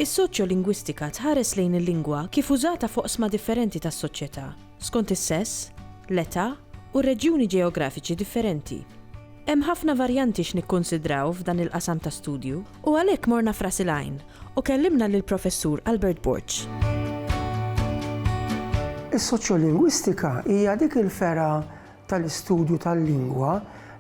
Is-soċjolingwistika tħares lejn il-lingwa kif użata f'oqsma differenti tas-soċjetà, skont is-sess, l-età u r-reġjuni ġeografiċi differenti. Hemm ħafna varjanti x'nikkunsidraw f'dan il-qasam ta' studju. U għalhekk morna f'Ras il-Għajn u kellimna lill-Professur Albert Borg. Is-soċjolingwistika hija dik il-fergħa tal-istudju tal-lingwa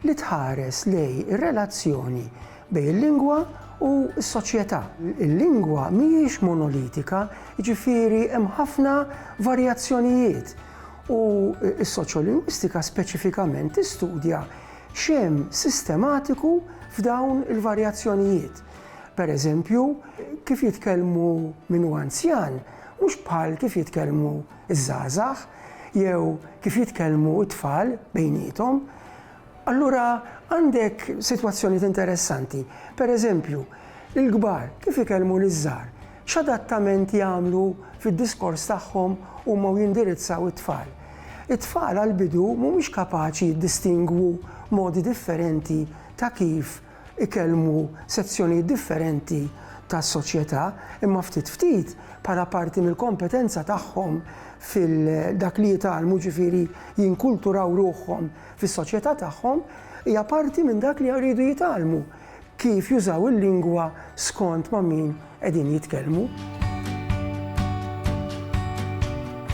li tħares lejn ir-relazzjoni bejn il-lingwa u s-soċjetà. Il-lingwa mhijiex monolitika, jiġifieri hemm ħafna varjazzjonijiet u s-soċjolingwistika speċifikament tistudja x'hemm sistematiku f'dawn il-varjazzjonijiet. Per eżempju, kif jitkellmu min hu anzjan mhux bħal kif jitkellmu ż-żgħażagħ jew kif jitkellmu t-tfal bejniethom. Allura għandek sitwazzjonijiet interessanti. Per eżempju, il-kbar kif ikellmu liż-żgħar, X'adattament jagħmlu fid-diskors tagħhom huma u jindirizzaw it-tfal? It-tfal għall-bidu mhumiex kapaċi jiddistingwu modi differenti ta' kif ikellmu sezzjonijiet differenti tas-soċjetà, imma ftit ftit, bħala parti mill-kompetenza tagħhom fil-dak li jitgħallmu, ġifieri jinkulturaw ruħhom fis-soċjetà tagħhom, hija parti minn dak li jridu jitgħallmu. kif jużaw il-lingwa skont ma' min qegħdin jitkellmu.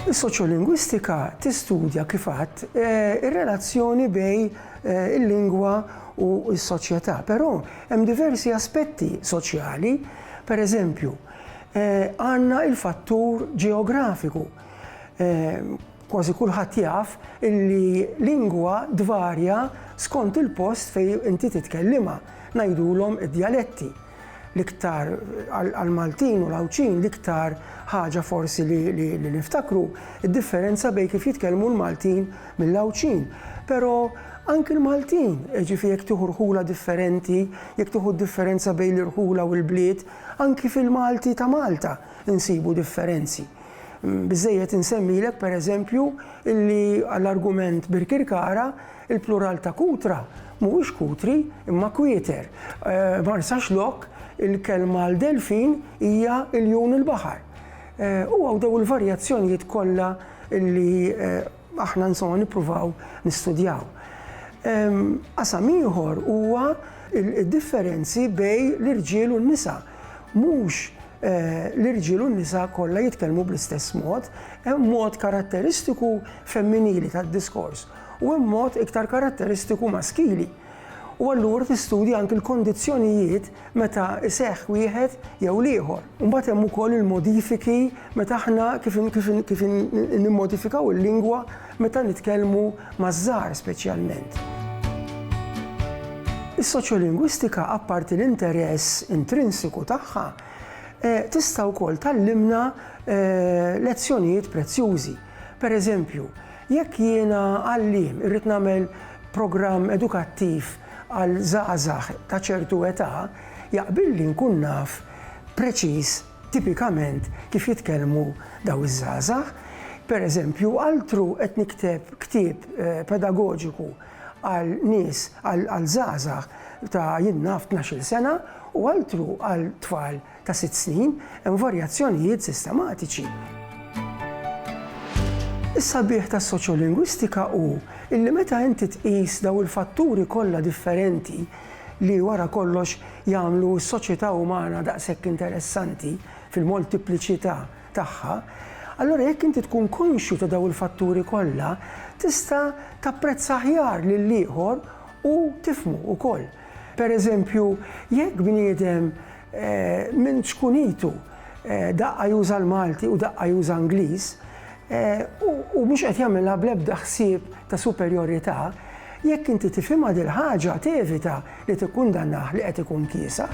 Is-soċjolingwistika tistudja, kif għadt, ir-relazzjoni bejn il-lingwa u s-soċjetà, però hemm diversi aspetti soċjali, per eżempju, għandna l-fattur ġeografiku, Kważi kulħadd jaf illi lingwa tvarja skont il-post fejn inti titkellimha, ngħidulhom id-djaletti. L-iktar għall-Maltin u l-Għawdxin l-iktar ħaġa forsi li niftakru d-differenza bejn kif jitkellmu l-Maltin mill-Għawdxin. Però anki l-Maltin, jiġifieri jekk tieħu rħula differenti, jekk tieħu d-differenza bejn l-irħula u l-bliet, anki fil-Malti ta' Malta insibu differenzi. Biżżejjed insemmilek, pereżempju, illi għall-argument Birkirkara, il-plural ta' kutra mhuwiex kutri imma kwieter. Marsaxlokk, il-kelma għal delfin hija iljun il-baħar. U hawn dawn il-varjazzjonijiet kollha illi aħna insomma nippruvaw nistudjaw. Qasam ieħor huwa d-differenzi bejn l-irġiel u n-nisa. Mhux l-irġiel u n-nisa kollha jitkellmu bl-istess mod, hemm mod karatteristiku femminili tad-diskors u hemm mod iktar karatteristiku maskili. U allura tistudja anki l-kondizzjonijiet meta iseħħ wieħed jew l-ieħor. Imbagħad hemm ukoll il-modifiki meta aħna kif kif kif nimmodifikaw il-lingwa Meta nitkellmu maż-żgħar speċjalment. Is-soċjolingwistika apparti l-interess intrinsiku tagħha, tista' wkoll tgħallimna lezzjonijiet prezzjużi. Per eżempju, jekk jiena għalliem irrid nagħmel programm edukattiv għal żgħażagħ ta' ċertu età, jaqbilli nkun naf preċiż Tipikament kif jitkellmu dawn iż-żgħażagħ, pereżempju, altru qed nikteb ktieb pedagoġiku għal nies, għal żgħażagħ ta' jien naf tnax-il sena u altru għal tfal ta' sitt snin, hemm varjazzjonijiet sistematiċi. Is-sabiħ tas-soċjolingwistika hu illi meta inti tqis dawn il-fatturi kollha differenti, li wara kollox jagħmlu s-soċjetà umana daqshekk interessanti fil-moltipliċità tagħha, allura jekk inti tkun konxju ta' dawn il-fatturi kollha, tista' tapprezza aħjar lill-ieħor u tifhmu wkoll. Pereżempju, jekk bniedem Minn ċkunitu daqqa juża l-Malti u daqqa juża Ingliż u mhux qed jagħmilha bl-ebda ħsieb ta' superjorità, jekk inti tifhimha dil-ħaġa tevita li tikkundannah li qed ikun kiesaħ.